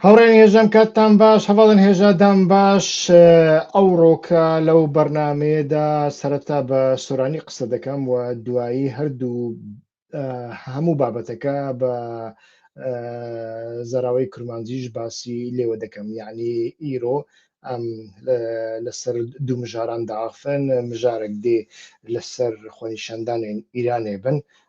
هاوڕێیان هێژام کاتتان باش هەواڵن هێژادام باش ئەوڕۆکە لەو بەرنمەیەدا سەرەتا بە سۆرانی قسە دەکەم و دوایی هەردوو هەموو بابەتەکە بە زەراوی کرمانجیش باسی لێوە دەکەم یعنی ئیرۆ ئەم لەسەر دوو مژاران داخن مژارێک دێ لەسەر خۆنیشاندانێن ئیرانێ بن. آه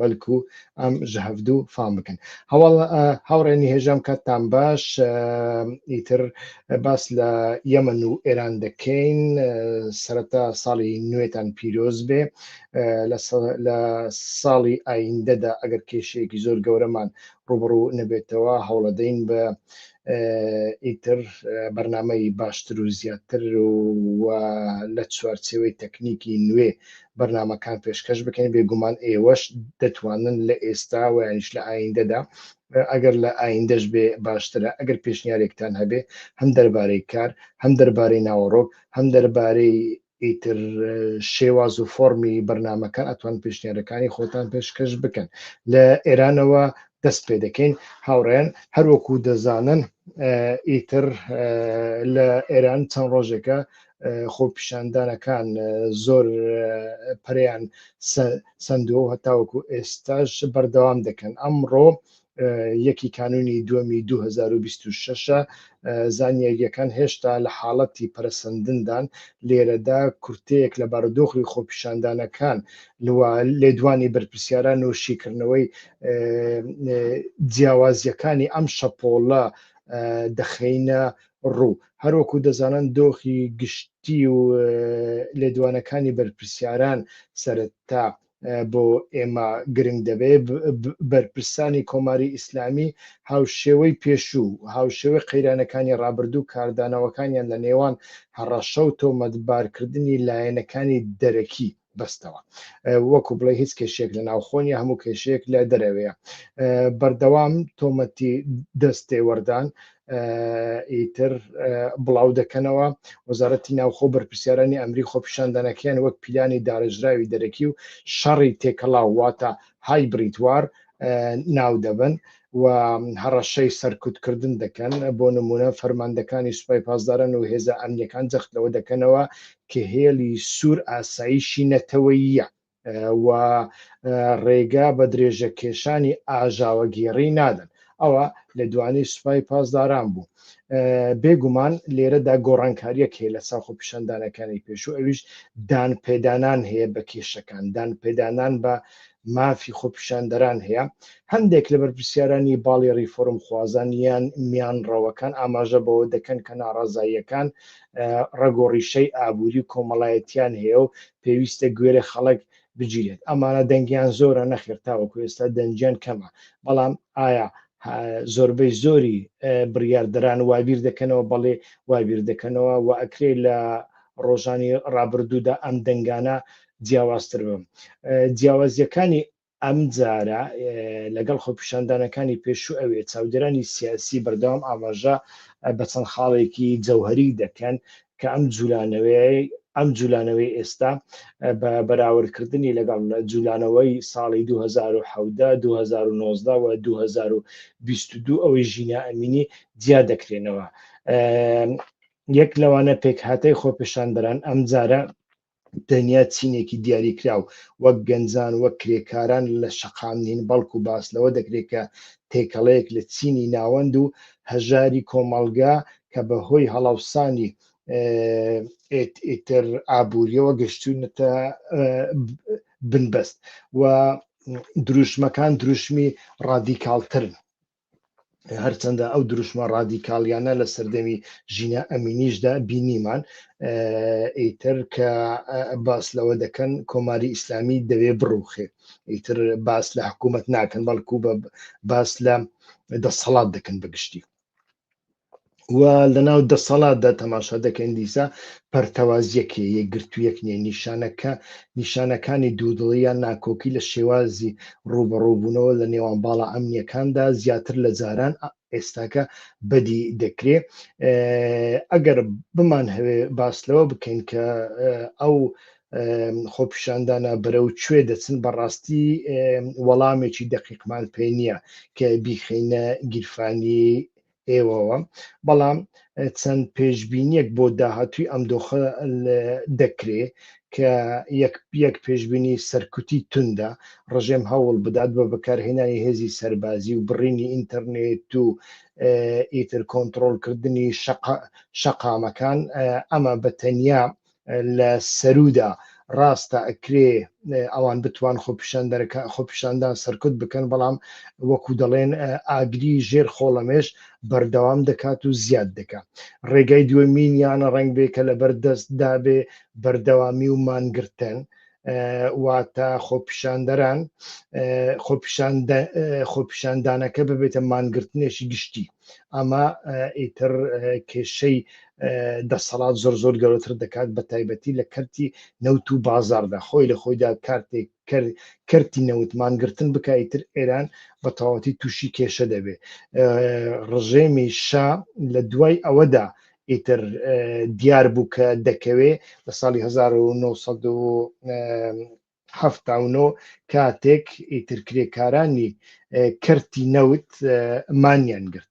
بەلکو ئەم ژهفدو فام بکەن هەواڵ هاوڕێ نهێژام کاتتان باش ئیتر باس لە یەمەن و ئێران دەکەین سەرەتا ساڵی نوێتان پیرۆز بێ لە ساڵی ئایندەدا ئەگەر کێشەیەکی زۆر گەورەمان ڕوبڕوو نەبێتەوە هەوڵەدەین بە ئیتر بەرنامەی باشتر و زیاتر و لە چوارچێوەی تەکنیکی نوێ بەرنمەکان پێشکەش بکەین بێگومان ئێوەش دەتوانن لە ئێستا ویش لە ئایندەدا ئەگەر لە ئایندەش بێ باشترە ئەگەر پێشنیارێکتان هەبێ هەم دەربارەی کار هەم دەربارەی ناوەڕۆک هەم دەربارەی ئیتر شێواز و فۆڕمی بەرنمەکان ئەتوان پێشنیارەکانی خۆتان پێشکەش بکەن لە ئێرانەوە دەست پێ دەکەین هاوڕێن هەروەکو دەزانن ئیتر لە ئێران چەند ڕۆژێکە خۆپیشاندانەکان زۆر پریان سندوو هەتاوەکو ئێستاش بەردەوام دەکەن ئەمڕۆ یەکی کانونی دووەمی دوو هەزار و بیست و شەش ە، زانیارییەکان هێشتا لە حاڵەتی پەرەسەندندان، لێرەدا کورتەیەک لە بارودۆخی خۆپیشاندانەکان و لێدوانی بەرپرسیاران و شیکردنەوەی جیاوازییەکانی ئەم شەپۆڵە دەخەینە ڕوو. هەروەکو دەزانن دۆخی گشتی و لێدوانەکانی بەرپرسیاران سەرەتا بۆ ئێمە گرنگ دەبێ بەرپرسانی کۆماری ئیسلامی هاوشێوەی پێشوو هاوشێوەی قەیرانەکانی ڕابردوو کاردانەوەکانیان لە نێوان هەڕەشە و تۆمەتبارکردنی لایەنەکانی دەرەکی بەستەوە وەکو بڵێ هیچ کێشێک لە ناوخۆنی هەموو کێشێک لە دەرەوەیە بەردەوام تۆمەتی دەستێوەردان ئیتر بڵاو دەکەنەوە وەزارەتی ناوخۆ بەرپرسیارانی ئەمری خۆپیشاندانەکەیان وەک پیلانی دارژراوی دەرەکی و شەڕی تێکەڵاو واتە های بریتوار ناو دەبن و هەڕەشەی سەرکوتکردن دەکەن بۆ نمونە فەرماندەکانی سوپای پاسداران و هێزە ئەمنیەکان جەخت لەوە دەکەنەوە کە هێڵی سوور ئاساییشی نەتەوەیە و ڕێگا بە درێژەکێشانی ئاژاوەگێڕی نادەن ئەوە لە دوانی سوپای پاسداران بوو بێگومان لێرەدا گۆڕانکاریەک هەیە لە ساخ و پیشاندانەکانی پێشوو ئەویش دان پێدانان هەیە بە کێشەکان دان پێدانان بە مافی خۆپیشاندەران هەیە هەندێک لە بەرپسیارانی باڵی ریفۆرم خوازان یان میان ڕەوەکان ئاماژە بەوە دەکەن کە ناڕازاییەکان ڕگۆڕیشەی ئابووری کۆمەڵایەتیان هەیە و پێویستە گوێرە خەڵک بگیرێت ئەمانە دەنگیان زۆرە نەخێر تاوەکو ئێستا دەنگیان کەمە بەڵام ئایا زۆربەی زۆری بڕیاردەران وابیر دەکەنەوە بەڵێ وابیر دەکەنەوە و ئەکرێ لە ڕۆژانی ڕابردوودا ئەم دەنگانە جیاوازتر بم جیاوازیەکانی ئەمجارە لەگەڵ خۆپیشاندانەکانی پێشوو ئەوێ، چاودێرانی سیاسی بەردەوام ئاماژە بە چەند خاڵێکی جەوهەری دەکەن کە ئەم جولانەوەی ئەم جولانەوەی ئێستا بە بەراوردکردنی لەگەڵ جولانەوەی ساڵی 2017 2019 و 2022 ئەوەی ژینا ئەمینی جیا دەکرێنەوە یەک لەوانە پێکهاتەی خۆپیشاندەران ئەمجارە تەنیا چینێکی دیاریکراو وەک گەنجان وەک کرێکاران لە شەقام نین بەڵکو باس لەوە دەکرێت کە تێکەڵەیەک لە چینی ناوەند و هەژاری کۆمەڵگا کە بە هۆی هەڵاوسانی ئیتر ئابووریەوە گەشتونەتە بنبەست و دروشمەکان دروشمی ڕادیکالترن هەرچەندە ئەو دروشمە ڕادیکاڵیانە لە سەردەمی ژینا ئەمینیشدا بینیمان ئیتر کە باس لەوە دەکەن کۆماری ئیسلامی دەوێ بڕوخێ ئیتر باس لە حکوومەت ناکەن بەڵکو بە باس لە دەسەڵات دەکەن بەگشتی و لەناو دەسەڵاتدا تەماشا دەکەین دیسا پەرتەوازیەکێ یەکگرتوویەک نیە نیشانەکە نیشانەکانی دوودڵی یان ناکۆکی لە شێوازی ڕوبەڕووبوونەوە لە نێوان باڵا ئەمنیەکاندا زیاتر لە جاران ئێستاکە بەدی دەکرێ ئەگەر بمان هەوێ باس لەوە بکەین کە ئەو خۆپیشاندانە بەرەو کوێ دەچن بەڕاستی وەڵامێکی دەقیقمان پێ نییە کە بیخینە گیرفانی ئێوەوە، بەڵام چەند پێشبینیەک بۆ داهاتووی ئەم دۆخە دەکرێ کە یەک پێشبینی سەرکوتی توندە، ڕژێم هەوڵ بدات بە بەکارهێنانی هێزی سەربازی و بڕینی ئینتەرنێت و ئیتر کۆنترۆڵکردنی شەقامەکان، ئەمە بە تەنیا لە سەروودا ڕاستە ئەکرێ ئەوان بتوان خۆپیشاندەرەکە خۆپیشاندان سەرکوت بکەن بەڵام وەکو دەڵێن ئاگری ژێر خۆڵەمێش بەردەوام دەکات و زیاد دەکات ڕێگای دووەمینیانە ڕنگ بێ کە لەبەر دەست دابێ بەردەوامی و مانگرتن واتە خۆپیشاندەران خۆپیشاندانەکە ببێتە مانگرتنێکی گشتی ئەمە ئیتر کێشەی دەسەڵات زۆر زۆر گەورەتر دەکات بە تایبەتی لە کەرتی نەوت و بازاردا خۆی لە خۆیدا کارتێک کەرتی نەوتمان گرتن بکایتر ئێران بە تەواتی تووشی کێشە دەبێ ڕژێمی شا لە دوای ئەوەدا ئیتر دیار بوو کە دەکەوێ لە ساڵی 1970 حەفتا و نۆ کاتێک ئیتر کرێکارانی کەرتی نەوت مانیان گرت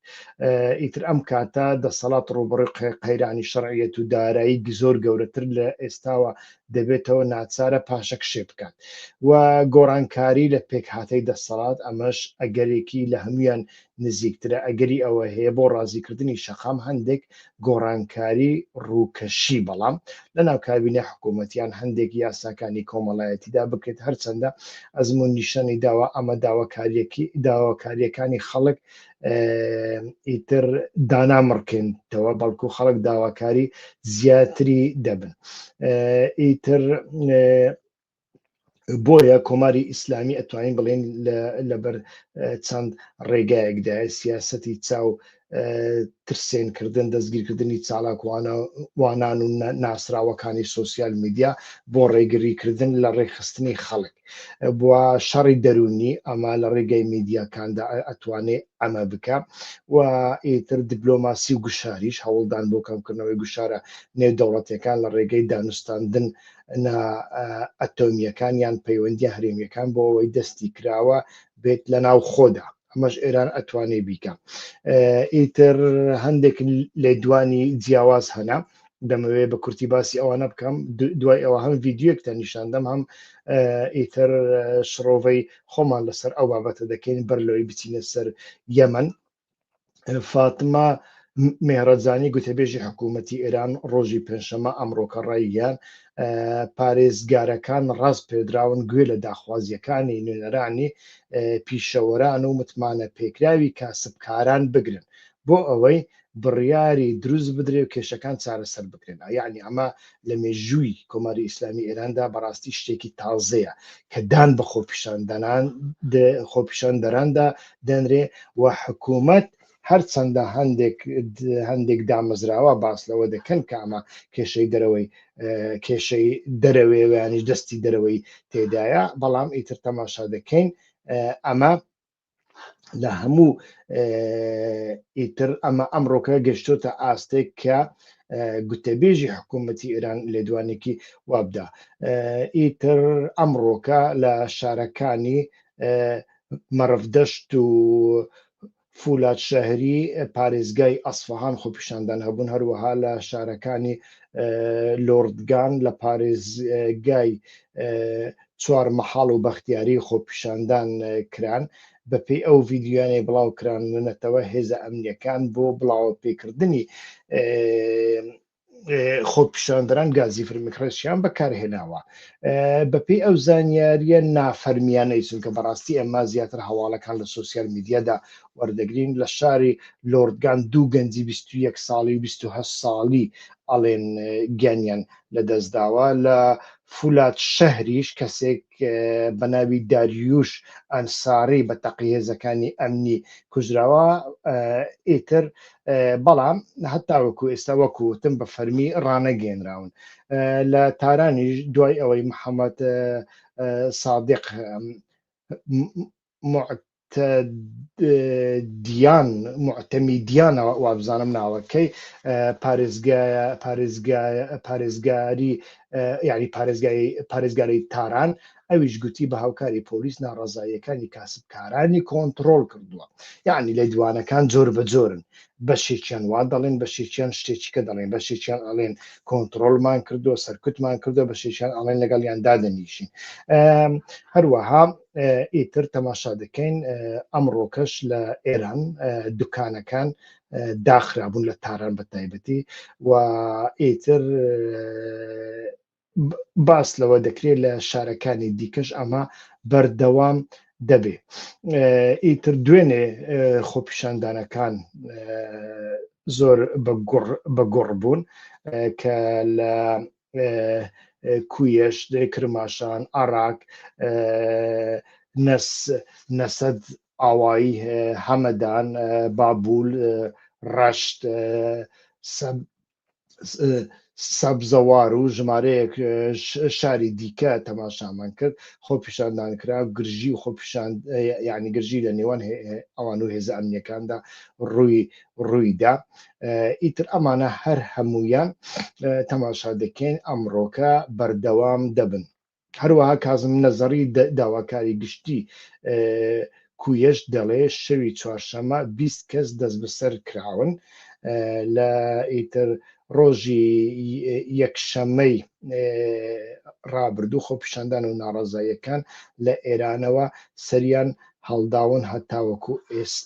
ئیتر ئەم کاتە دەسەڵات ڕوبڕی قەیرانی شەڕعەت و دارایی زۆر گەورەتر لە ئێستاوە دەبێتەوە ناچارە پاشەک شێ بکات و گۆڕانکاری لە پێکهاتەی دەسەڵات ئەمەش ئەگەرێکی لە هەمویان نزیکترە ئەگەری ئەوە هەیە بۆ ڕازیکردنی شەقام هەندێک گۆڕانکاری ڕووکەشی بەڵام لە ناو کابینە حکوومەتیان هەندێک یاساکانی کۆمەڵایەتیدا بکرێت هەرچەندە ئەزمون نیشانی داوا ئەمە داواکاریەکی داواکاریەکانی خەڵک ئیتر دانامڕکێنتەوە بەڵکو خەڵک داواکاری زیاتری دەبن ئیتر بۆیە کۆماری ئیسلامی ئەتوانین بڵێن لەبەر چەند ڕێگایەکدا سیاستی چاو ترسێنکردن دەستگیرکردنی چالاکوانان و ناسراوەکانی سوسیال میدیا بۆ ڕێگریکردن لە ڕێکخستنی خەڵک بووە شەڕی دەرونی ئەمە لە ڕێگەی میدیاکاندا ئەتوانێت ئەمە بکە و ئیتر دیبلۆماسی و گوشاریش هەوڵدان بۆ کەمکردنەوەی گوشارە نێودەوڵەتەکان لە ڕێگەی دانوستاندن نا ئەتۆمییەکان یان پەیوەندیە هەرێمیەکان بۆ ئەوەی دەستی کراوە بێت لە ناو خۆدا ئەمەش ئێران ئەتوانێ بیکە ئیتر هەندێک لێدوانی جیاواز هەنا دەمەوێت بە کورتی باسی ئەوانە بکەم دوای ئەوە هەم ڤیددیوەکتە نیشاندەم هەم ئیتر شڕۆڤەی خۆمان لەسەر ئەو بابەتە دەکەین بەر لەوەی بچینە سەر یەمن فاتمە مێرەجانی گوتەبێژی حکوومەتتی ئێران ڕۆژی پێنجشەمە ئەمڕۆکە ڕایگەیان پارێزگارەکان ڕاست پێدراون گوێ لە داخوازیەکانی نوێنەرانی پیشەوەران و متمانە پێکراوی کاسبکاران بگرن بۆ ئەوەی بڕیاری دروست بدرێ و کێشەکان چارەسەر بکرێن یعنی ئەمە لە مێژووی کۆماری ئیسلامی ئێراندا بەڕاستی شتێکی تازەیە کە دان بە خۆپیشاندەران خۆپیشاندەراندا دەنرێ و حکوومەت هەرچەندە هەندێک هەندێک دامەزراوە باس لەوە دەکەن کە ئەمە کێشەی دەرەوەی کێشەی دەرەوەیانیش دەستی دەرەوەی تێدایە بەڵام ئیتر تەماشا دەکەین ئەمە لە هەموو ئیتر ئەمە ئەمڕۆکە گەشتۆتە ئاستێک کە گوتەبێژی حکوومەتتی ئێران لێدوانێکی وابدا ئیتر ئەمڕۆکە لە شارەکانی مەڕفدەشت و فولاد شەهری پارێزگای ئەسفهان خۆپیشاندان هەبوون هەروەها لە شارەکانی لۆردگان لە پارێزگای چوار مەحاڵ و بەختیاری خۆپیشاندان کران بەپێی ئەو ڤیدیۆیانەی بڵاو کرانونەتەوە هێزە ئەمنیەکان بۆ بڵاوە پێکردنی خۆپیشاندران گازی فرمکڕێسیان بەکارهێناوە بەپی ئەو زانیاریە نافەرمیانەی چونکە بەڕاستی ئەمە زیاتر هەواڵەکان لە سوسیال میدیادا وەردەگرین لە شاری لۆردگان دوو گەنجی 21 ساڵی و 28 ساڵی ئەڵێن گیانیان لە دەستداوە لە فولاد شەهریش کەسێک بەناوی داریووش ئەنساری بە تەقەی هێزەکانی ئەمنی کوژراوە ئیتر بەڵام هەتاوەکو ئێستا وەکو وتم بە فەرمی ڕانەگەێنراون لە تارانیش دوای ئەوەی محەممەد سادق موعتەدیان، موعتەمیدیان وابزانم ناوەکەی، پارێزگایە، پارێزگایە، پارێزگاری یانی پارێزگای، پارێزگاری تاران، ئەویش گوتی بە هاوکاری پۆلیس ناڕەزاییەکانی کاسبکارانی کۆنتڕۆڵ کردووە. یانی لێدوانەکان جۆر بە جۆرن. بەشێکیان وا دەڵێن، بەشێکیان شتێکیکە دەڵێن، بەشێکیان ئەڵێن کۆنتڕۆڵمان کردووە، سەرکوتمان کردووە، بەشێکیان ئەڵێن لەگەڵیان دادەنیشین. هەروەها. ئیتر تەماشا دەکەین ئەمڕۆکەش لە ئێران دوکانەکان داخرابوون لە تاران بە تایبەتی و ئیتر باس لەوە دەکرێت لە شارەکانی دیکەش ئەمە بەردەوام دەبێ ئیتر دوێنێ خۆپیشاندانەکان زۆر بە گوڕ بوون کە لە کویەش کرماشان عراق نەس نەسەد ئاوایی هەمەدان بابول ڕەشت سەبزەوار و ژمارەیەک شاری دیکە تەماشامان کرد خۆ پیشاندان کرا گرژی و خۆ پیشان ینی گرژی لە نێوان ئەوان و هێزە ئەمنیەکاندا ڕووی ڕوویدا ئیتر ئەمانە هەر هەموویان تەماشا دەکەین ئەمڕۆکە بەردەوام دەبن هەروەها کازم نەزەڕی داواکاری گشتی کویش دەڵێ شەوی چوارشەمە 20 کەس دەست بەسەر کراون لە ئیتر ڕۆژی یەکشەمەی ڕابردوو خۆپیشاندان و ناڕازاییەکان لە ئێرانەوە سەریان هەڵداون هەتاوەکو ئێست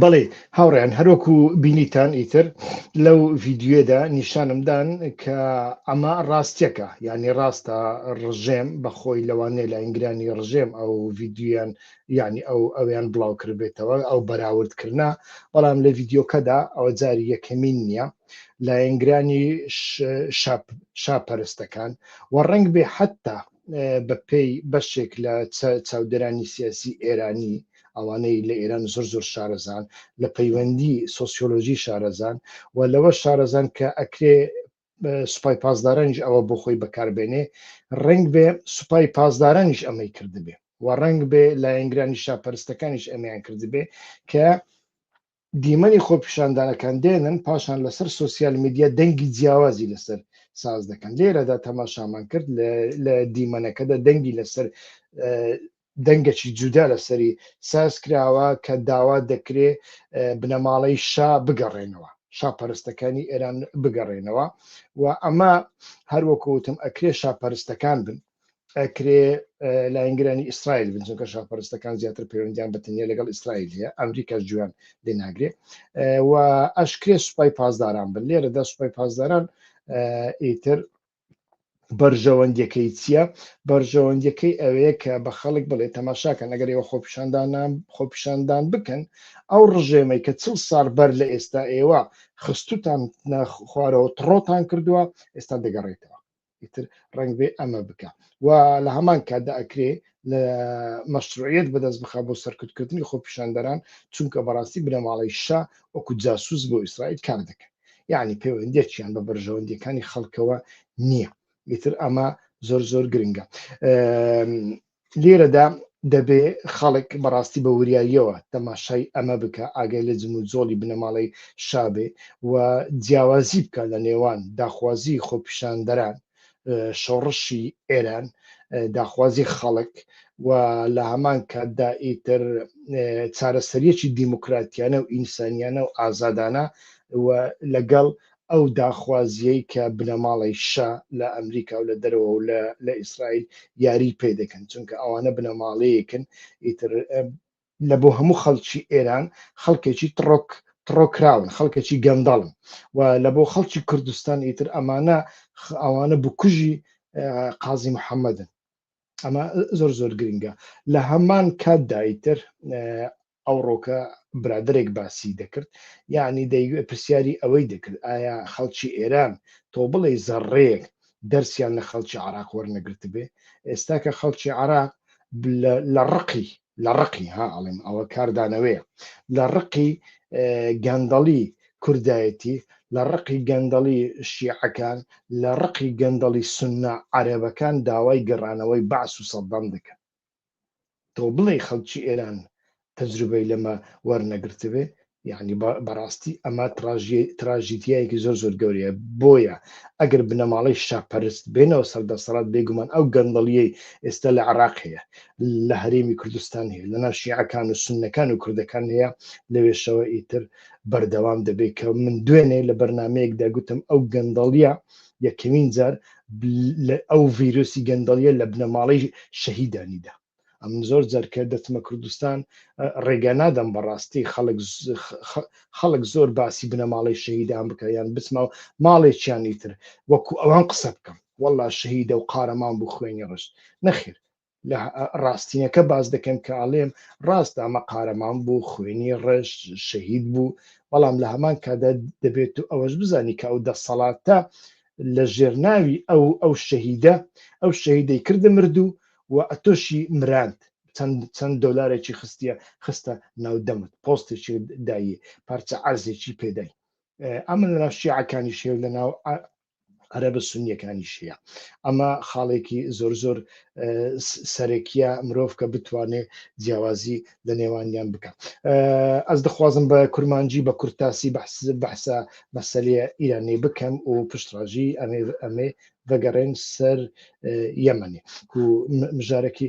بەڵێ هاوڕێن هەرۆکو بینیتان ئیتر لەو ڤیددیوێدا نیشانمدان کە ئەمە ڕاستیەکە ینی ڕاستە ڕژێم بەخۆی لەوانێ لە ئینگرانی ڕژێم ئەو ڤیددیویان ینی ئەو ئەویان بڵاو کردبێتەوە ئەو بەراوردکردە بەڵام لە ڤیددیوکەدا ئەوە جاری یەکەمین نییە لایەنگرانی شاپەرستەکان و ڕنگ بێ حتا بە پێی بەشێک لە چاودێرانی سیاسی ئێرانی، ئەوانەی لە ئێران زۆر زۆر شارەزان لە پەیوەندی سۆسیۆلۆژی شارەزان و لەوە شارەزان کە ئەکرێ سوپای پاسدارانیش ئەوە بۆ خۆی بەکاربێنێ ڕنگ بێ سوپای پاسدارانیش ئەمەی کردبێ و ڕنگ بێ لایەنگرانی شاپەرستەکانیش ئەمیان کردبێ کە دیمەنی خۆپیشاندانەکان دێنن، پاشان لەسەر سۆسیال میدیا دەنگی جیاوازی لەسەر ساز دەکەن، لێرەدا تەماشامان کرد لە دیمەنەکەدا دەنگی لەسەر دەنگەکی جودا لەسەری ساز کراوە کە داوا دەکرێ بنەماڵەی شا بگەڕێنەوە شاپەرستەکانی ئێران بگەڕێنەوە و ئەمە هەروەکوتم ئەکرێ شاپەرستەکان بن ئەکرێ لاینگرانی ئیسرائیل بن چونکە شاپەرستەکان زیاتر پەیوەندیان بە تەنیا لەگەڵ ئیسرائیل هەیە ئەمریکا جویان لێ ناگرێ و ئەشکرێ سوپای پاسداران بن لێرەدا سوپای پاسداران ئیتر بەرژەوەندیەکەی چییە بەرژەوەندیەکەی ئەوەیە کە بە خەڵک بڵێ تەماشاکەن ئەگەر ئێوە خۆپیشاندان خۆپیشاندان بکەن ئەو ڕژێمەی کە چل ساڵ بەر لە ئێستا ئێوە خستوتان خوارەوە تڕۆتان کردووە ئێستا دەگەڕێتەوە ئیتر ڕنگ بێ ئەمە بکە و لە هەمان کاتدا ئەکرێ لە مەشروعەت بەدەست بخە بۆ سەرکردکردنی خۆپیشاندەران چونکە بەڕاستی بنەماڵەی شا وەکو جاسوس بۆ ئیسرائیل کار دەکەن یعنی پەیوەندێکیان بە بەرژەوەندیەکانی خەڵکەوە نییە ئیتر ئەمە زۆر زۆر گرنگە لێرەدا دەبێ خەڵک بەڕاستی بە وریاییەوە تەماشای ئەمە بکا، ئاگای لە جموجۆڵی بنەماڵەی شا بێ و جیاوازی بکا لە نێوان داخوازیی خۆپیشاندەران، شۆڕشی ئێران، داخوازیی خەڵک و لە هەمان کاتدا ئیتر چارەسەرییەکی دیموکراتیانە و ئینسانیانە و ئازادانە و لەگەڵ ئەو داخوازییەی کە بنەماڵەی شا لە ئەمریکا و لە دەرەوە و لە ئیسرائیل یاریی پێ دەکەن، چونکە ئەوانە بنەماڵەیەکن ئیتر لە بۆ هەموو خەڵکی ئێران خەڵکێکی تڕۆک تڕۆکراون، خەڵکێکی گەندەڵن و لە بۆ خەڵکی کوردستان ئیتر ئەمانە ئەوانە بکوژی قازی محەممەدن. ئەمە زۆر زۆر گرنگە لە هەمان کاتدا ئیتر ئەوڕۆکە برادەرێک باسی دەکرد یەعنی دەیوێت پرسیاری ئەوەی دەکرد ئایا خەڵکی ئێران تۆ بڵێی زەڕڕەیەک دەرسیان لە خەڵکی عەڕاق وەرنەگرتبێ ئێستا کە خەڵکی عەڕاق لە ڕقی لە ڕقی ها ئەڵێم ئەوە کاردانەوەیە لە ڕقی گەندەڵی کوردایەتی لە ڕقی گەندەڵی شیعەکان لە ڕقی گەندەڵی سنە عەرەبەکان داوای گەڕانەوەی بەعس و سەدام دەکەن تۆ بڵێی خەڵکی ئێران تەجروبەی لەمە وەرنەگرتبێ یعنی بەڕاستی ئەمە تراژیدیایەکی زۆر زۆر گەورەیە بۆیە ئەگەر بنەماڵەی شاپەرست بێنەوە سەر دەسەڵات بێگومان ئەو گەندەڵیەی ئێستا لە عراق هەیە لە هەرێمی کوردستان هەیە لە ناشیعەکان و سنەکان و کوردەکان هەیە لەوێشەوە ئیتر بەردەوام دەبێت کە من دوێنێ لە بەرنمەیەکدا گوتم ئەو گەندەڵیە یەکەمین جار ئەو ڤیرۆسی گەندەڵیە لە بنەماڵەی شەهیدانیدا ئەم زۆر جەرکە دەتمە کوردستان ڕێگە نادەم بەڕاستی خەڵک خەڵک زۆر باسی بنەماڵەی شەهیدان بکە یان بچمە ماڵێکیانی تر وەکو ئەوان قسە بکەم والله شەهیدە و قارەمان بوو خوێنی ڕشت نەخێر لە ڕاستینەکە باز دەکەم کە ئاڵێم ڕاست ئەمە قارەمان بوو خوێنی ڕێژ شەهید بوو بەڵام لە هەمان کادا دەبێت و ئەوەش بزانی کە ئەو دەسەڵاتە لە ژێرناوی ئەو ئەو شەهیدە ئەو شەهیدەی کردە مردوو و ئەتۆشی مراند چەند چەند دۆلارێکی خستە خستە ناودەمت پۆستێکی دایی پارچە عرزێکی پێدای ئەمن لە شیعەکانی شێو لە ناو عەرەبە سونیەکانی شیە ئەمە خاڵێکی زۆر زۆر سەرەکیە مرۆڤ کە بتوانێت جیاوازی لە نێوانیان بکات ئەس دەخوازم بە کورمانجی بە کورتاسی بەحس بەحسە مەسلەیە ئیرانی بکەم و پشتڕژی ئەمێ ئەمێ بەگەڕێن سەر یەمەنی و مژارێکی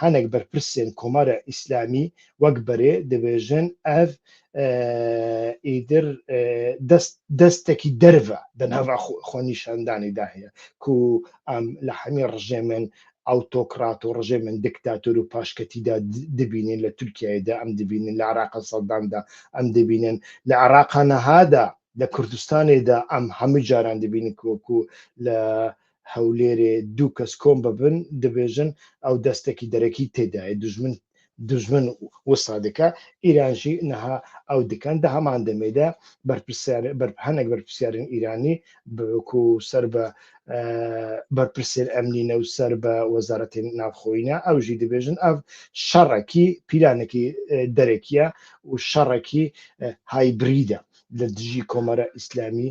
هەنێک بەرپرسێن کۆمارە ئیسلامی وەک بەرێ دەبێژن ئەف ئیدر دەستێکی دەرە دە ناوا خۆنیشاندانی داهەیە کو ئەم لە هەمی ڕژێمێن ئەوتۆکرات و ڕژێ من دکتاتۆر و پاشکەتیدا دبینین لە تورکایدا ئەم دبینن لە عراقە سەداندا ئەم دەبینن لە عراقانەهادا لە کوردستانێدا ئەم هەموو جاران دەبینن کۆکو لە هەولێرێ دوو کەس کۆم ببن دبێژن ئەو دەستەکی دەرەکی تێدایە دوژمن دوژمن وسا دکا ئیرانژی نەها ئەو دکان دە هەمان دەمێدا بەرپرسیار بەر هەنێک بەرپرسیارن ئیرانی بکو سەر بە بەرپرسێر ئەمنینە و سەر بە وەزارەتی ناوخۆینە ئەوژی دەبێژن ئەف شەڕەکی پیلانێکی دەرەکیە و شەڕەکی هایبریدە لە دژی کۆمەرە ئیسلامی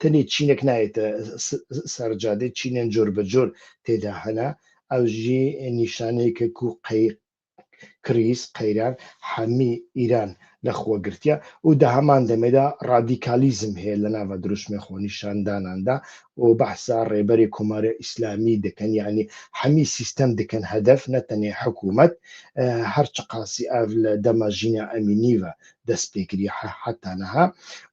تەنێ چینێک نایێتە سەرجادەی چینێن جۆر بە جۆر تێدا هەنا ئەوژی نیشانەیەکە کو قەی کریس قەیران حەمی ئیران لە خۆگرتیا و دە هەمان دەمێدا ڕادیکالیزم هەیە لە ناوە دروشمێ خۆنیشانداناندا و بەحسا ڕێبەری کۆمارە ئیسلامی دەکەن یعنی حەمی سیستەم دکەن هەدەف نەتەنێ حکوومەت هەرچ قاسی ئاو لە دەمە ژینا ئەمینیوە دەست پێکری حە حەتا لە هە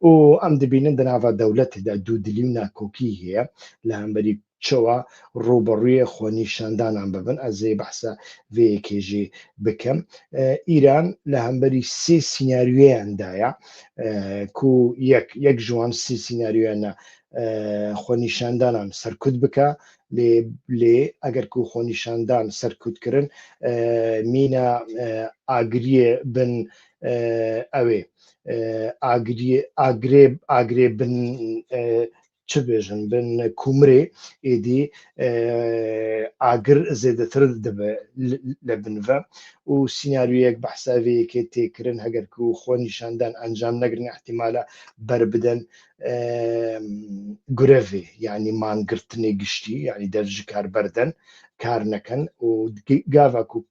و ئەم دبینن دە ناڤا دەولەت دا دوو دلی و ناکۆکی هەیە لە هەمبەری چەوە رووبەڕووێ خۆ نیشاندانان ببن ئەزێ بەحسە ڤێ یەکێژێ بکەم ئیران لە هەمبەری سێ سیناریۆیان دایە کو یەک یەک ژوان سی سیناریۆیانە خۆ نیشاندانان سەرکوت بکە لێ لێ ئەگەر کو خۆ نیشاندان سەرکوت کردن مینە ئاگریێ بن ئەوێ ئاگرێ ئاگرێ بن چ بێژن بن کومرێ ئێدی ئاگر زێدەتر دەبێ لە بنڤە و سیننارویەک بە حساوەیەکێ تێکردن هەگەر و خۆ نیشاندان ئەنجام نەگرن احتیمالە بەر بدەن گرەێ یعنی مانگرتنی گشتی یعنی دەرج کار بەردەن کار نەکەن و گاڤک و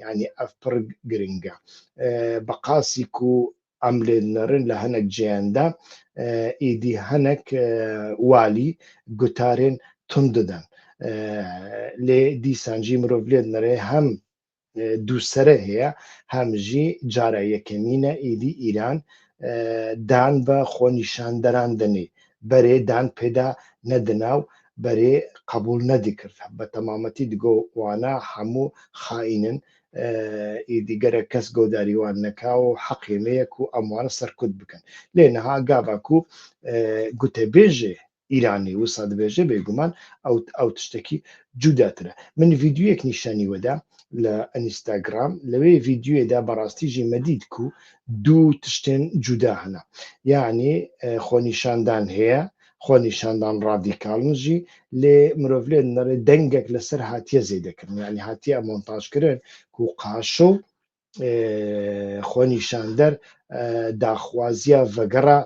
یعنی ئەف پڕ گرنگە بە قاسیک و ئەم لێ نەڕن لە هەنێک جیاندا ئیدی هەنێک والی گوتارێن تون دەدەن لێ دیسانجی مرۆڤ لێت نەرێ هەم دووسرە هەیە هەمژی جارە یەکەمینە ئیدی ئیران دان بە خۆنیشاندەران دەنێ بەرێ دان پێدا نەدنا و بەرێ قەبوڵ نەدکرد بە تەمامەتی دگۆ وانە حەمو خائینن ئی دیگەرە کەس گۆداری وان نەکا و حەقێ نەیە کو ئەم وانە سەرکوت بکەن لێ نها گاڤا کو گوتە بێژێ ئیرانی وسا دبێژێ بێ گومان ئەو تشتەکی جودا ترە من ڤیدیویەک نیشانی وەدا لە ئەنیستاگرام لەوێ ڤیدیوێدا بەڕاستی ژی مەدید کو دوو تشتێن جودا هەنە یانی خۆنیشاندان هەیە خۆنیشاندان ڕادیکالنجی لێ مرۆڤ لێ نەڕێ دەنگێک لەسەر هاتیە زەی دەکردن ینی هاتیە مۆنتاژکردن و قاشە و خۆنیشاندەر داخوازیە ڤگەڕە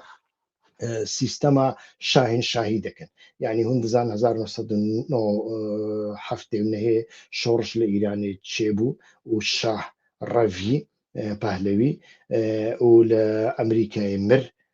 سیستەما شاهین شاهی دەکەن ینی هون دزان 1970 نەهەیە شۆڕش لە ئیرانێ چێ بوو و شاه ڕەوی پهلوی و لە ئەمریکای مر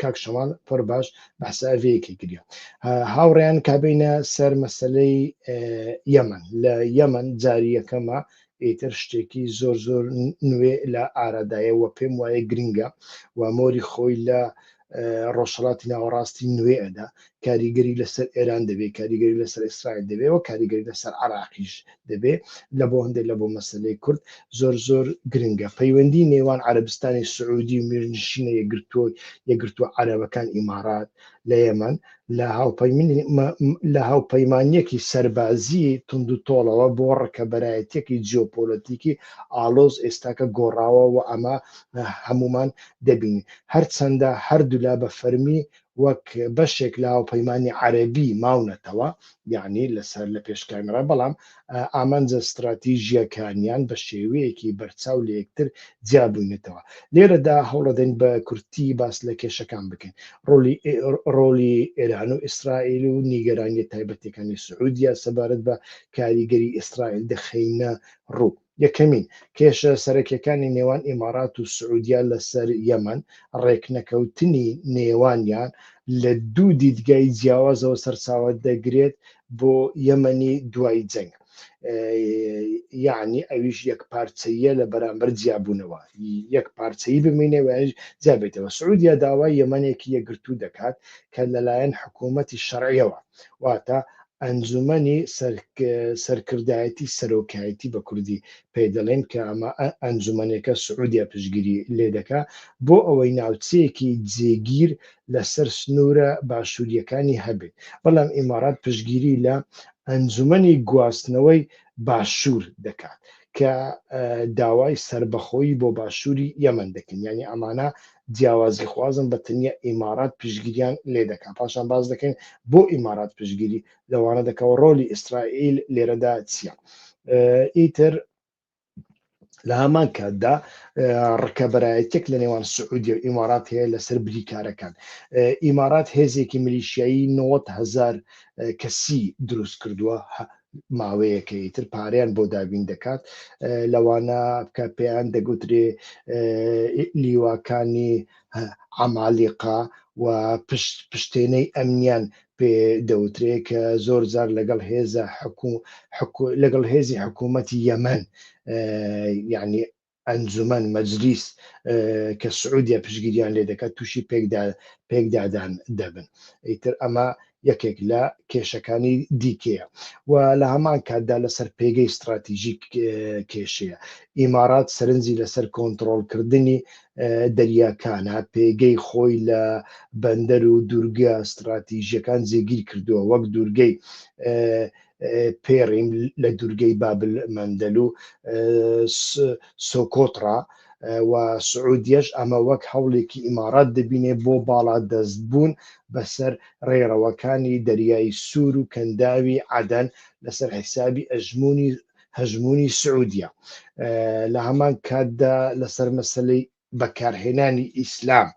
کاک شەماڵ پڕ باش بەحساڤەیەکی گریا هاوڕێیان کابینە سەر مەسلەی یەمەن لە یەمەن جاریەکەمە ئیتر شتێکی زۆر زۆر نوێ لە ئارادایەوە پێم وایە گرنگە و مۆری خۆی لە ڕۆژهڵاتی ناوەڕاستی نوێ ئەدا کاریگەری لەسەر ئێران دەبێ کاریگەری لەسەر ئیسرائیل دەبێ و کاریگەری لەسەر عراقیش دەبێ لە بۆ هەندێک لە بۆ مەسلەی کورد زۆر زۆر گرنگە پەیوەندی نێوان عربستانی سعودی و میرنشینە یەگرتووە یەگرتووە عربەکان ئیمارات لە یەمەن لە هاوپەیمنی لە هاوپەیمانیەکی سەربازی تونند و تۆڵەوە بۆ ڕکەبەرایەتێکی جیۆپۆلەتیکی ئالۆز ئێستاکە گۆڕاوە و ئەمە هەمومان دەبین هەرچەندە هەردوولا بە فەرمی وەک بەشێک لە هاوپەیمانی عەرەبی ماونەتەوە، یەعنی لەسەر لە پێش کامێرا، بەڵام ئامانجە ستراتیژییەکانیان بە شێوەیەکی بەرچاو لە یەکتر جیا بووینەتەوە. لێرەدا هەوڵەدەین بە کورتی باس لە کێشەکان بکەین، ڕۆڵی ئێران و ئیسرائیل و نیگەرانییە تایبەتییەکانی سعودیە سەبارەت بە کاریگەری ئیسرائیل دەخەینە ڕوو. یەکەمین، کێشە سەرەکیەکانی نێوان ئیمارات و سعودیە لەسەر یەمەن، ڕێکنەکەوتنی نێوانیان لە دوو دیدگای جیاوازەوە سەرچاوە دەگرێت بۆ یەمەنی دوای جەنگ، یەعنی ئەویش یەکپارچەییە لە بەرامبەر جیابوونەوە، یەک پارچەیی بمینێ و یانیش جیابێتەوە. سعودیە داوای یەمەنێکی یەکگرتوو دەکات کە لەلایەن حکوومەتی شەرعیەوە، واتە ئەنجومەنی سەرکردایەتی سەرۆکایەتی بە کوردی پێی دەڵێن کە ئەمە ئەنجومەنێکە سعودیە پشتگیری لێ دەکا بۆ ئەوەی ناوچەیەکی جێگیر لەسەر سنوورە باشوورییەکانی هەبێت بەڵام ئیمارات پشتگیری لە ئەنجومەنی گواستنەوەی باشوور دەکات کە داوای سەربەخۆیی بۆ باشووری یەمەن دەکەن یانی ئەمانە جیاوازیخوازن بە تەنیا ئیمارات پشتگیریان لێ دەکا پاشان باس دەکەین بۆ ئیمارات پشتگیری لەوانە دەکا و ڕۆلی ئیسرائیل لێرەدا چییە ئیتر لە هەمان کاتدا ڕکەبەرایەتێک لە نێوان سعودی و ئیمارات هەیە لەسەر بریکارەکان ئیمارات هێزێکی ملیشایی 90هزار کەسی دروست کردووە ماوەیەکە ئیتر پارەیان بۆ دابین دەکات لەوانە بکە پێیان دەگوترێ لیواکانی عمالیقا و پشت پشتێنەی ئەمنیان پێ دەوترێ کە زۆر زار لەگەڵ هێزە حکو لەگەڵ هێزی حکوومەتی یەمەن یعنی ئەنجومەن مەجلیس کە سعودیە پشگیریان لێ دەکات تووشی پێکدا پێکدادان دەبن ئیتر ئەمە یەکێک لە کێشەکانی دیکەیە و لە هەمان کاتدا لەسەر پێگەی استراتیژیک کێشەیە ئیمارات سەرنجی لەسەر کۆنتترۆلکردنی دەریاکانە پێگەی خۆی لە بەندەر و دوورگە استراتیژیەکان جێگیر کردووە وەک دوورگەی پێڕیم لە دوورگەی بابل مەندەل و سۆکۆتڕا و سعودیەش ئەمە وەک هەوڵێکی ئیمارات دەبینێ بۆ باڵا دەست بوون بەسەر ڕێڕەوەکانی دەریایی سوور و کەنداوی عادەن لەسەر حیسابی ئەژمونی هەژمونی سعودیە لە هەمان کاتدا لەسەر مەسلەی بەکارهێنانی ئیسلام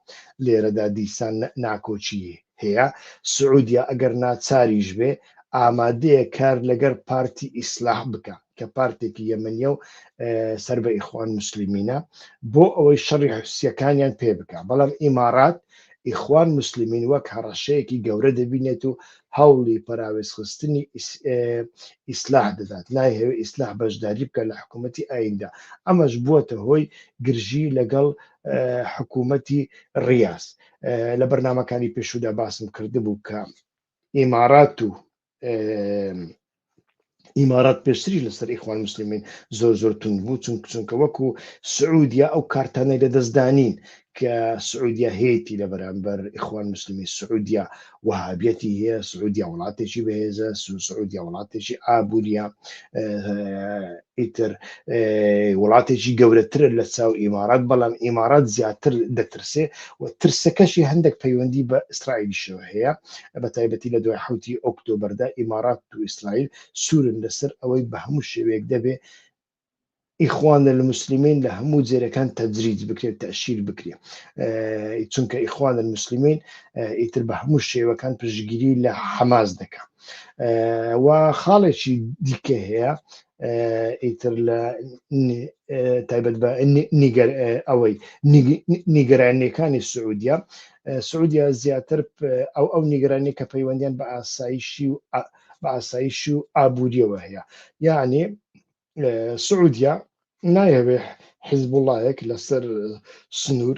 لێرەدا دیسان ناکۆکی هەیە، سعودیە ئەگەر ناچاریش بێ ئامادەیە کار لەگەر پارتی ئیسلاح بکا کە پارتێکی یەمەنیە و سەر بە ئیخوان موسلیمینە بۆ ئەوەی شەڕی حوسیەکانیان پێ بکا بەڵام ئیمارات ئیخوان موسلیمین وەک هەڕەشەیەکی گەورە دەبینێت و هەوڵی پەراوێزخستنی ئیسلاح دەدات، نایهەوێت ئیسلاح بەشداری بکات لە حکوومەتی ئاییندا، ئەمەش بووەتە هۆی گرژی لەگەڵ حکوومەتی ڕیاز. لە بەرنامەکانی پێشوودا باسم کردبوو کە ئیمارات و ئیمارات پێشتریش لەسەر ئیخوان مسلمین زۆر زۆر تون بوو چون چونکە وەکو سعودیا ئەو کارتانەی لە دەستدانین کە سعودیا هەیەی لە بەرامبەر ئیخوان مسلمی سعودیا وهابەتی هەیە سعودیا وڵاتێکی بەهێزە سعودیا وڵاتێکی ئابوووریە ئیتر وڵاتێکی گەورەترە لە چاو ئیمارات بەڵام ئیمارات زیاتر دەترسێ و ترسەکەشی هەندێک پەیوەندی بە ئیسرائیلیشەوە هەیە بە تایبەتی لە دوای حوتی ئۆکتۆبەردا ئیمارات و ئیسرائیل سوورن لەسەر ئەوەی بە هەموو شێوەیەک دەبێ ئیخوان لە مسللمین لە هەموو جێرەکان تەجریج بکرێت تەشیر بکرێت چونکە ئیخوان مسللمین ئیتر بە هەموو شێوەکان پشگیری لە حەماس دەکات و خاڵێکی دیکە هەیە ئیتر لە تایبەت بە نیگەر ئەوەی نیگەرانیەکانی سعودیا سعودیا زیاتر ئەو ئەو نیگەرانی کە پەیوەندیان بە ئاسایشی و بە ئاسایشی و ئابوووریەوە هەیە یعنی سعودیا نایەوێ حیزبوڵایەک لەسەر سنوور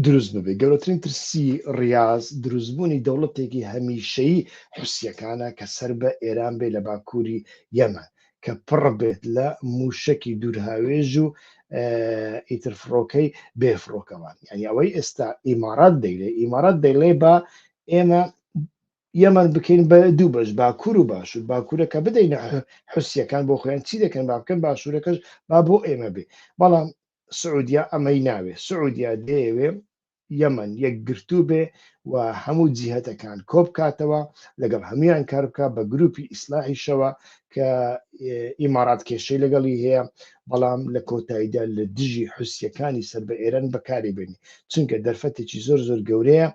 دروست ببێ گەورەترین ترسی ڕاز دروستبوونی دەوڵەتێکی هەمیشەی حوسیەکانە کە سەر بە ئێران بێ لە باکووری یەمە کە پڕ بێت لە موشکی دوورهاوێژ و ئیتر فڕۆکەی بێ فڕۆکەوان یعنی ئەوەی ئێستا ئیمارات دەیلێ ئیمارات دەیڵێ بە ئێمە یەمەن بکەین بە دوو بەش باکوور و باشوور باکوورەکە بدەینە حوسیەکان بۆ خۆیان چی دەکەن با بکەن باشوورەکەش با بۆ ئێمە بێ بەڵام سعودیا ئەمەی ناوێ سعودیا دەیەوێ یەمەن یەکگرتوو بێ و هەموو جیهتەکان کۆبکاتەوە لەگەڵ هەمویان کار بکە بە گروپی ئیسلاحیشەوە کە ئیمارات کێشەی لەگەڵی هەیە بەڵام لە کۆتاییدا لە دژی حوسیەکانی سەر بە ئێران بەکاری بێنی چونکە دەرفەتێکی زۆر زۆر گەورەیە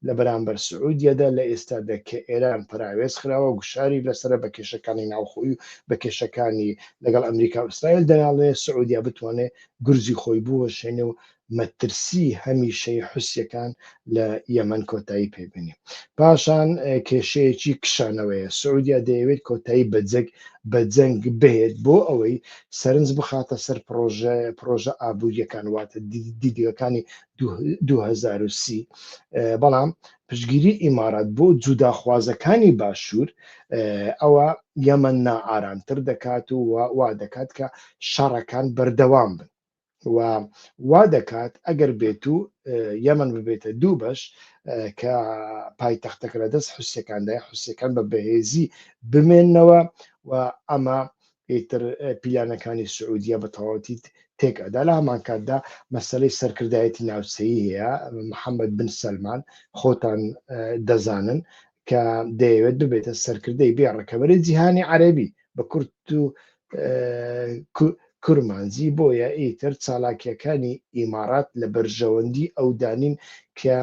لە بەرامبەر سعودیەدا لە ئێستادا کە ئێران پراوێز خراوە گوشاری لەسەر بە کێشەکانی ناوخۆی و بە کێشەکانی لەگەڵ ئەمریکا و ئیسرائیل دەناڵێ سعودیا بتوانێت گرزی خۆی بوەشێنێ و مەترسی هەمیشەی حوسیەکان لە یەمەن کۆتایی پێ بێنێ. پاشان کێشەیەکی کشانەوەیە، سعودیە دەیەوێت کۆتایی بە جەگ بە جەنگ بهێت بۆ ئەوەی سەرنج بخاتە سەر پڕۆژە پڕۆژە ئابووریەکان واتە دیدگەکانی دوو هەزار و سی بەڵام پشگیری ئیمارات بۆ جوداخوازەکانی باشوور ئەوە یەمەن نائارامتر دەکات و وا دەکات کە شەڕەکان بەردەوام بن. و وا دەکات ئەگەر بێت و یەمەن ببێتە دوو بەش کە پایتەختەکە لە دەست حوسەکاندای حوسەکان بە بەهێزی بمێنەوە و ئەمە ئیتر پیلانەکانی سعودیە بە تەواوەتی تێک ئەدا لە هەمان کاتدا مەسلەی سەرکردایەتی ناوچەیی هەیە محەممەد بن سەلمان خۆتان دەزانن کە دەیەوێت ببێتە سەرکردەی بێ ڕکەبەری جیهانی عەربی بە کورت و کورمانجی بۆیە ئیتر چالاکیەکانی ئیمارات لە بەرژەوەندی ئەو دانین کە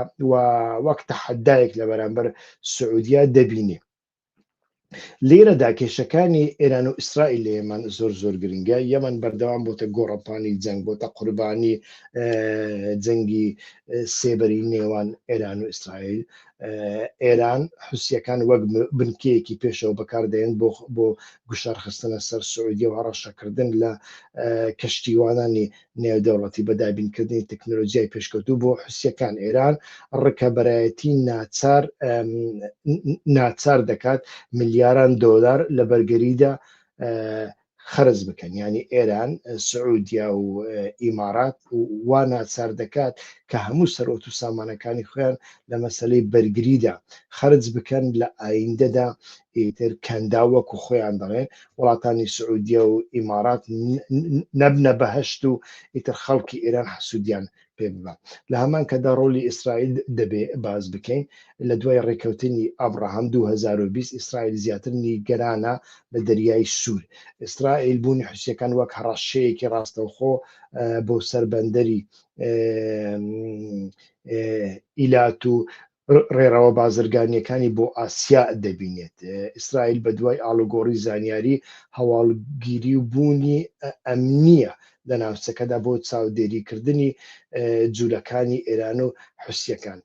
وەک تەحەدایەک لە بەرامبەر سعودیا دەبینێ لێرەدا کێشەکانی ئێران و ئیسرائیل لە یەمەن زۆر زۆر گرنگە یەمەن بەردەوام بۆتە گۆڕەپانی جەنگ بۆتە قوربانی جەنگی سێبەری نێوان ئێران و ئیسرائیل ئێران حوسیەکان وەک بنکەیەکی پێشەوە بەکاردێن بۆ بۆ گوشارخستنە سەر سعودیە و هەڕەشەکردن لە کەشتیوانانی نێودەوڵەتی بە دابینکردنی تەکنۆلۆژیای پێشکەوتو بۆ حوسیەکان ئێران ڕکەبەرایەتی ناچار ناچار دەکات ملیاران دۆلار لە بەرگەریدا خەرج بکەن یانی ئێران سعودیا و ئیمارات وا ناچار دەکات کە هەموو سەرۆت و سامانەکانی خوێن لە مەسلەی بەرگریدا خەرج بکەن لە ئایندەدا ئیتر کەندا وەکو خۆیان دەڵێن وڵاتانی سعودیا و ئیمارات نەبنە بەهشت و ئیتر خەڵکی ئێران حەسوودیان پێ ببە لە هەمان کەدا ڕۆلی ئیسرائیل دەبێ باز بکەین لە دوای ڕێککەوتنی ئابراهام 2020 ئیسرائیل زیاتر نیگەرانە لە دەریای سوور ئیسرائیل بوونی حوسەکان وەک هەڕەشەیەکی ڕاستەوخۆ بۆ سەربەندەری ئیلات و ڕێڕەوە بازرگانییەکانی بۆ ئاسیا دەبینێت. ئیسرائیل بەدوای ئاڵوگۆڕی زانیاری هەواڵگیری و بوونی ئەمنییە لە ناوچەکەدا بۆ چاودێریکردنی جولەکانی ئێران و حوسییەکان.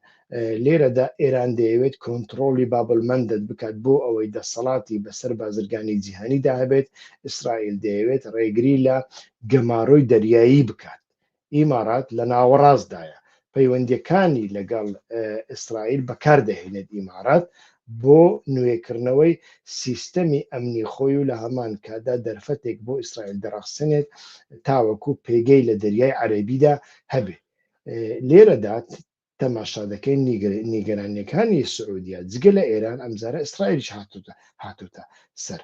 لێرەدا ئێران دەیەوێت کۆنتڕۆڵی باب المەندەد بکات بۆ ئەوەی دەسەڵاتی بەسەر بازرگانی جیهانیدا هەبێت، ئیسرائیل دەیەوێت ڕێگری لە گەمارۆی دەریایی بکات ئیمارات لە ناوەڕاستدایە، پەیوەندییەکانی لەگەڵ ئیسرائیل بەکاردەهێنێت ئیمارات بۆ نوێکردنەوەی سیستەمی ئەمنی خۆی و لە هەمان کاتدا دەرفەتێک بۆ ئیسرائیل دەڕەخسێنێت تاوەکو پێگەی لە دەریای عەرەبیدا هەبێت لێرەدا تەماشادەکەین نیگەرانیەکانی سعودیە جگە لە ئێران ئەمجارە ئیسرائیلیش هاتوتە سەر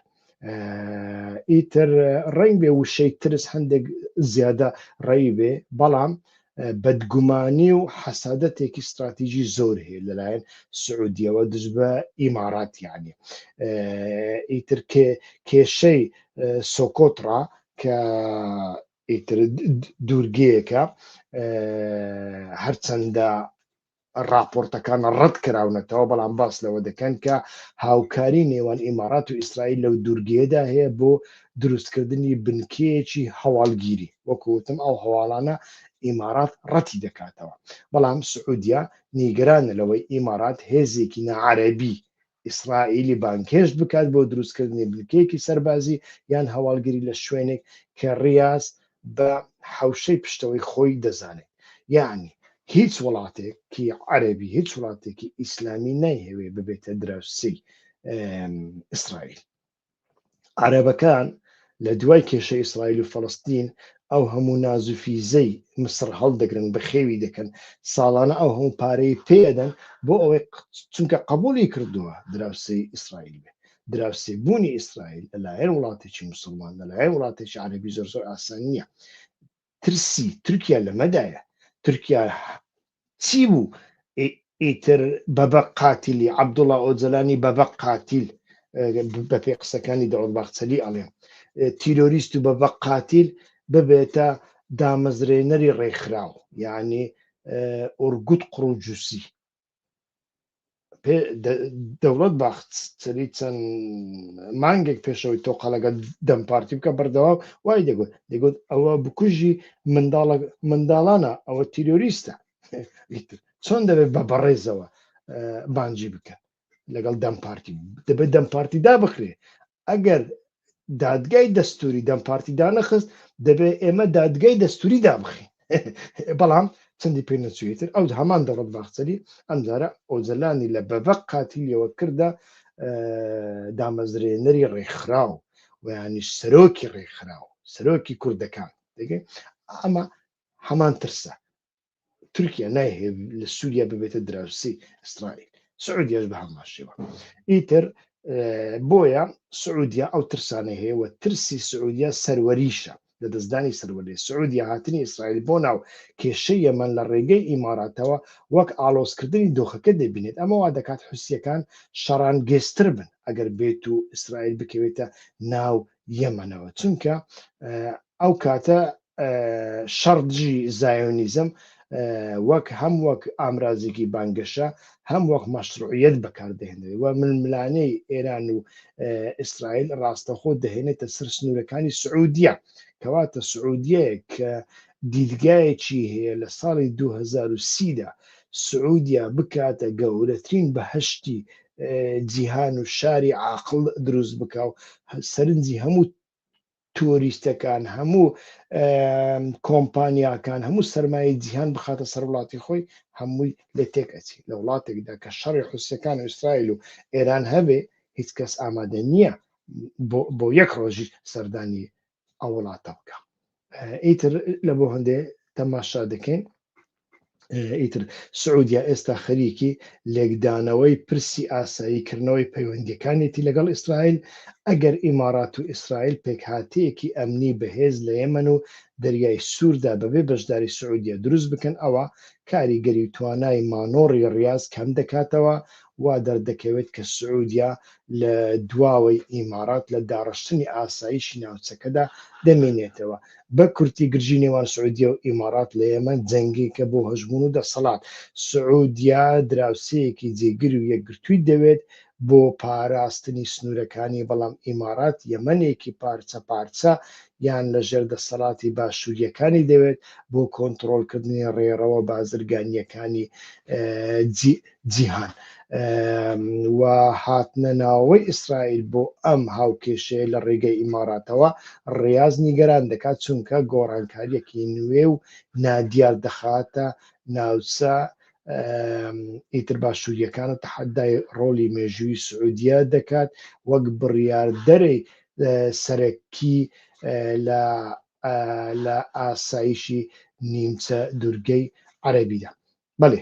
ئیتر ڕنگ بێ وشەی ترس هەندێک زیادە ڕێی بێ بەڵام بەدگومانی و حەسادەتێکی استراتیژی زۆر هەیە لەلایەن سعودیەوە دژ بە ئیماراتیانی ئیتر کێشەی سۆکۆترا کە ئیتر دوورگەیەکە هەرچەندە راپۆرتەکان ڕەت کراونەتەوە بەڵام باس لەوە دەکەن کە هاوکاری نێوان ئیمارات و ئیسرائیل لەو دوورگەیەدا هەیە بۆ دروستکردنی بنکەیەکی هەواڵگیری وەکوتم ئەو هەواڵانە ئیمارات ڕەتی دەکاتەوە بەڵام سعودیا نیگەرانە لەوەی ئیمارات هێزێکی نەعربی ئیسرائیلی بانگهێشت بکات بۆ دروستکردنی بنکەیەکی سەربازی یان هەواڵگری لە شوێنێک کە ڕیاز بە حەوشەی پشتەوەی خۆی دەزانێت یەعنی هیچ وڵاتێکی عەرەبی هیچ وڵاتێکی ئیسلامی نایهەوێ ببێتە دراوسێی ئیسرائیل. عەرەبەکان لە دوای کێشە ئیسرائیل و فەڵەستین ئەو هەموو نازوفیزەی مسڕ هەڵدەگرن بەخێوی دەکەن ساڵانە ئەو هەموو پارەی پێدەن بۆ ئەوەی چونکە قبولی کردووە دراوسی ئیسرائیل بێ دراوسی بوونی ئیسرائیل لەلایەن وڵاتێکی مسلمان لەلایەن وڵاتێکی عربی زۆر زۆر ئاسان نییە ترسی تورکیا لەمەدایە تورکیا چی بوو ئیتر بەبە قاتیلی عەبدوڵا ئۆجەلانی بەبە قاتیل بەپێ قسەکانی دەوڵ باخچەلی ئەڵێن تیرۆریست و بەبە قاتیل ببێتە دامەزرێنەری ڕێکخراو یعنی ئۆرگوت قڕوجوسی دەوڵەت باخت سەری چەند مانگێک پێشەوەی تۆقالەکە دەم پارتی بکە بەردەوا وای دەگوت دەگوت ئەوە بکوژی منداڵە منداڵانە ئەوە تیرۆریستە چۆن دەبێت بە بەڕێزەوە بانجی بکەن لەگەڵ دەم پارتی دەبێت دەم پارتیدا بخرێ ئەگەر دادگای دەستوری دەم پارتی دانەخست دەبێت ئێمە دادگای دەستوری دابخین بەڵام چەندی پێ نەچێتتر ئەو هەمان دەڵت باخچەری ئەمجارە ئۆجلانی لە بەبق قاتیلیەوە کردە دامەزرێنەری ڕێکخراو ویانیش سەرۆکی ڕێکخراو سەرۆکی کوردەکان دەگەن ئەمە هەمان ترسە تورکیا نایهێ لە سووریا ببێتە دراوسی ئیسرائیل سعودیش بە هەمان شێوە ئیتر بۆیە سعودیا ئەو ترسانە هەیە و ترسی سعودیا سەروەریشە لە دەستدانی سەروەری سعودیا هاتنی ئیسرائیل بۆ ناو کێشە یەمەن لە ڕێگەی ئیماراتەوە وەک ئالۆزکردنی دۆخەکە دەبینێت ئەمەوا دەکات حوسیەکان شەڕان گێستر بن ئەگەر بێت و ئیسرائیل بکەوێتە ناو یەمەنەوە چونکە ئەو کاتە شەڕ دژی زایۆنیزم وەک هەم وەک ئامرازێکی بانگەشە هەم وەک مەشروعیت بەکاردێنێت و ململانەی ئێران و ئیسرائیل ڕاستەخۆ دەهێنێتە سەر سنوورەکانی سعودیە کەواتە سعودیە کە دیدگایەکی هەیە لە ساڵی 2030دا سعودیا بکاتە گەورەترین بەهشتی جیهان و شاری عاقڵ دروست بکا و سەرنجی هەموو تۆریستەکان هەموو کۆمپانیاکان هەموو سرمایە جیهان بخاتە سەر وڵاتی خۆی هەمووی لە تێک ئەچی لە وڵاتێکدا کە شەڕی حوسەکان و ئیسرائیل و ئێران هەبێ هیچ کەس ئامادە نییە بۆ یەک ڕۆژی سەردانی ئەو وڵاتە بکە ئیتر لە بۆ هەندێ تەماشا دەکەین ئیتر سعودیا ئێستا خەریکی لێکدانەوەی پرسی ئاسایی کردنەوەی پەیوەندیەکانێتی لەگەڵ ئیسرائیل ئەگەر ئیمارات و ئیسرائیل پێکهاتەیەکی ئەمنی بەهێز لە یەمەن و دەریای سووردا بەبێ بەشداری سعودیە دروست بکەن ئەوە کاریگەری توانای مانۆڕی ڕاز کەم دەکاتەوە وا دەردەکەوێت کە سعودیە لە دواوەی ئیمارات لە داڕشتنی ئاسایشی ناوچەکەدا دەمێنێتەوە. بە کورتی گرژی نێوان سعودیە و ئیمارات لە یەمەن جەنگێکە بۆ هەژموون و دەسەڵات. سعودیە دراوسێیەکی جێگر و یەکگرتووی دەوێت بۆ پاراستنی سنوورەکانی، بەڵام ئیمارات یەمەنێکی پارچە پارچە یان لە ژێر دەسەڵاتی باشوورییەکانی دەوێت بۆ کۆنتڕۆڵکردنی ڕێڕەوە بازرگانییەکانی جیهان و هاتنە ناوەوەی ئیسرائیل بۆ ئەم هاوکێشەیە لە ڕێگەی ئیماراتەوە ڕاز نیگەران دەکات چونکە گۆڕانکاریەکی نوێ و نادیار دەخاتە ناوچە ئیتر باشووریەکان و تەحەدای ڕۆلی مێژووی سعودیە دەکات وەک بڕیاردەرەی سەرەکی لە لە ئاسایشی نیمچە دورگەی عەربیدا بەێ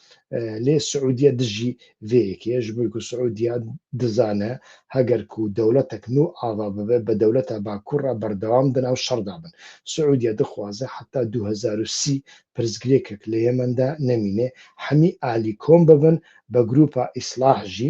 لێ سعودیە دژی ڤەیەکێش ملک و سعودیە دزانە هەگەرک و دەولەتەک نو ئاوا ببێ بە دەولەتە با کوڕە بەردەوام دەناو شەڕدا بن سعودیە دخوازە حتا دوو هەزار و سی پرسگرێکەک لە یەمەندا نەمینێ حەمی ئالی کۆم ببن بە گروپە ئیسڵاح ژی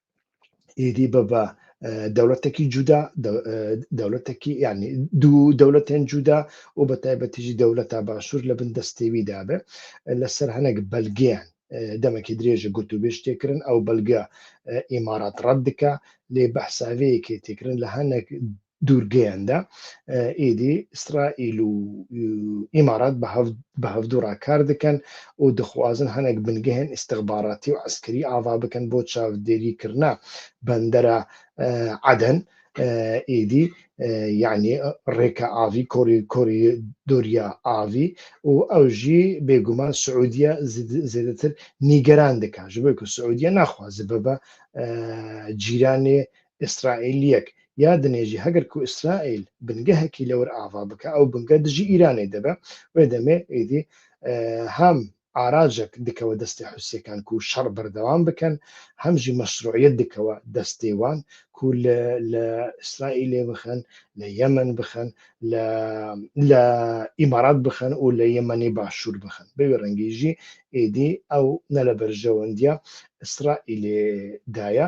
ئیدی بە بە دەولەتێکی جودا دەولەتێکی ینی دوو دەولەتێن جودا و بە تایبەتیژی دەولەتا باشوور لە بن دەستێوی دابێ لەسەر هەنێک بەلگیان دەمەکی درێژە گوت و بێش تێکردن ئەو بەلگە ئیمارات ڕەت دکە لێ بەحساوەیەکی تێکردن لە هەنێک دوورگەیاندا، ئیدی ئیسرائیل و ئیمارات بە هەڤدوڕا کار دەکەن و دخوازن هەنێک بنگەهێن ئیستخباراتی و عەسکەری ئاڤا بکەن بۆ چاودێری کردنە بەندەرە عەدەن، ئیدی یەعنی ڕێکە ئاڤی کۆری کۆری دۆریا ئاڤی و ئەوژی بێگومان سعودیە زێدەتر نیگەران دەکە ژبێک و سعودیە ناخوازە بە بە جیرانێ ئیسرائیلیەک یا دنێژی هەگەر کو ئیسرائیل بنگەهەکی لەور ئاڤا بکا ئەو بنگە دژی ئیرانێ دەبە وێ دەمێ ئیدی هەم ئاراجەک دکەوە دەستێ حوسیەکان کو شەڕ بەردەوام بکەن هەم ژی مەشروعیەت دکەوە دەستێ وان کو لە لە ئیسرائیلێ بخەن لە یەمەن بخەن لە لە ئیمارات بخەن و لە یەمەنی باشوور بخەن بەوێ ڕەنگیژی ئیدی ئەو نە لە بەرژەوەندیە ئیسرائیلێ دایە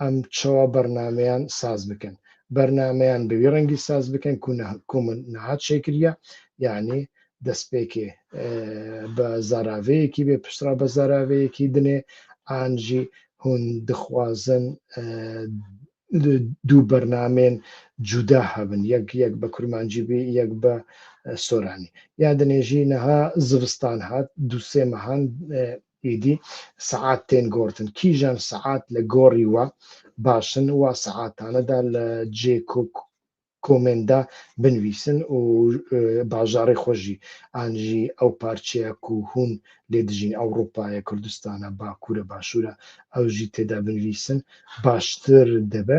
ئەم چوا بەرنامەیان ساز بکەن بەرنامەیان بەوی ڕەنگی ساز بکەن کوونە کومن نهات شەکرە یعنی دەستپێکێ بە زاراوەیەکی بێ پشترا بە زاراوەیەکی دنێ ئانجی هون دخوازن دوو بەرنامێن جودا هەبن یەک یەک بە کورمانجی بێ یەک بە سۆرانی یا دنێژی نەها زستان هات دووسێ مەهان ئیدی سەعات تێن گۆڕتن کیژان سەعات لە گۆڕی وە باشن وا سەعاتانەدا لە جێ کۆک کۆمێندا بنویسن و باژاڕی خۆشی ئانژی ئەو پارچەیە کو هون لێ دژین ئەوڕوپایە کوردستانە باکوورە باشوورە ئەوژی تێدا بنویسن باشتر دەبێ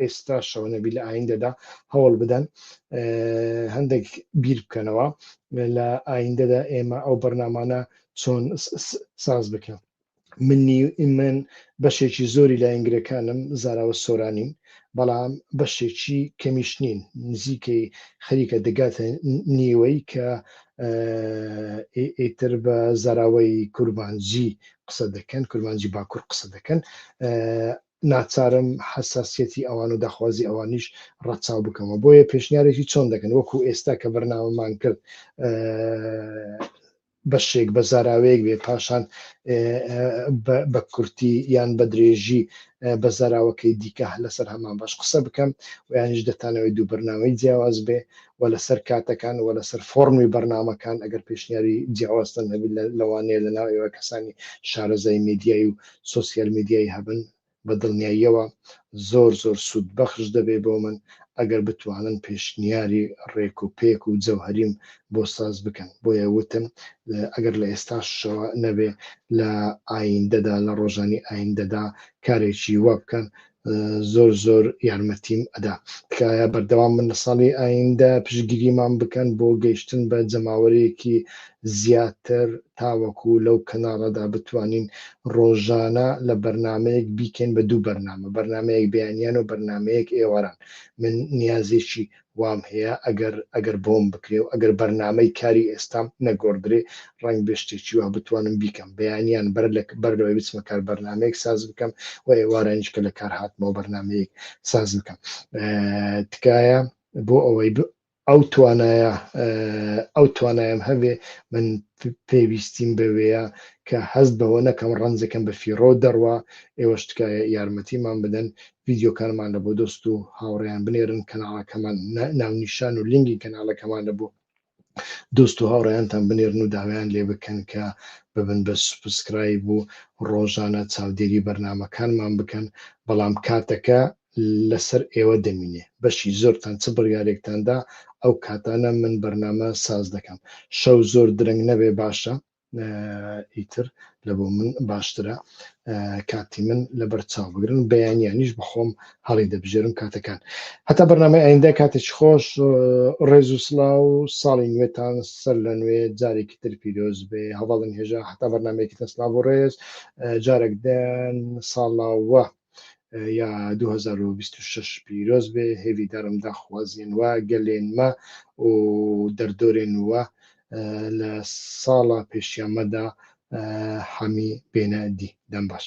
ئێستاشەوە نەبی لە ئایندەدا هەوڵ بدەن هەندێک بیر بکەنەوە لە ئایندەدا ئێمە ئەو بەرنامانە چۆن ساز بکەن منی من بەشێکی زۆری لە ئینگرەکانم زاراوە سۆرانین بەڵام بەشێکی کەمیش نین نزیکەی خەریکە دەگاتە نیوەی کە ئیتر بە زاراوەی کورمانجی قسە دەکەن کورمانجی باکوور قسە دەکەن ناچارم حەساسیەتی ئەوان و داخوازی ئەوانیش ڕەچاو بکەمەوە بۆیە پێشنیارێکی چۆن دەکەن وەکو ئێستا کە بەرنامەمان کرد بەشێک بە زاراوەیەک بێ پاشان بە کورتی یان بە درێژی بە زاراوەکەی دیکە لەسەر هەمان باش قسە بکەم ویانش دەتانەوەی دوو بەرنامەی جیاواز بێ و لەسەر کاتەکان و لەسەر فۆڕمی بەرنامەکان ئەگەر پێشنیاری جیاوازتان هەبێت لەوانەیە لەناو ئێوە کەسانی شارەزای میدیای و سۆسیال میدیای هەبن بە دڵنیاییەوە زۆر زۆر سوود بەخش دەبێت بۆ من ئەگەر بتوانن پێشنیاری ڕێک و پێک و جەوهەریم بۆ ساز بکەن بۆیە وتم ئەگەر لە ئێستاشەوە نەبێ لە ئایندەدا لە ڕۆژانی ئایندەدا کارێکی وا بکەن زۆر زۆر یارمەتیم ئەدا تکایە بەردەوام من لە ساڵی ئایندە پشگیریمان بکەن بۆ گەیشتن بە جەماوەرێکی زیاتر تاوەکو لەو کەناڵەدا بتوانین ڕۆژانە لە بەرنمەیەک بیکەین بە دوو بەرنامە بەرنمەیەک بەیانیان و بەرنمەیەک ئێواران من نیازێکی وام هەیە ئەگەر ئەگەر بۆم بکرێ و ئەگەر بەرنامەی کاری ئێستام نەگۆڕدرێ ڕەنگبێ شتێکی وا بتوانم بیکەم بەیانیان بەر لە بەر لەوەی بچمە کار بەرنامەیەک ساز بکەم و ئێوارانیش کە لە کار هاتمەوە بەرنامەیەک ساز بکەم تکایە بۆ ئەوەی ئەو توانایە ئەو توانایم هەبێ من پێویستیم بەوەیە کە هەست بەوە نەکەم ڕەنجەکەم بە فیڕۆ دەڕوا ئێوەش تکایە یارمەتیمان بدەن ڤیدیۆکانمان لە بۆ دۆست و هاوڕێیان بنێرن کەناڵەکەمان ناونیشان و لینگی کەناڵەکەمان لە بۆ دۆست و هاوڕێیانتان بنێرن و داوایان لێ بکەن کە ببن بە سوپسکرایب و ڕۆژانە چاودێری بەرنامەکانمان بکەن بەڵام کاتەکە لەسەر ئێوە دەمینێ بەشی زۆرتان چ بڕیارێکتاندا ئەو کاتانە من بەرنامە ساز دەکەم شەو زۆر درەنگ نەبێ باشە ئیتر لە بۆ من باشترە کاتی من لەبەر چاو بگرن بەیانیانیش بەخۆم هەڵی دەبژێرم کاتەکان هەتا بەرنامەی ئایندە کاتێکی خۆش ڕێز و سلااو و ساڵی نوێتان سەر لە نوێ جارێکی تر پیرۆز بێ هەواڵن هێژا هەتا بەرنمەیەکی تەسلا بۆ ڕێز جارێک دەن ساڵاوە یا 2026 پیرۆز بێ هێڤی دارم داخوازێن وە گەلێن مە و دەردۆرێن وە لە ساڵە پێشیان مەدا حەمی بێنە دی دەم باش.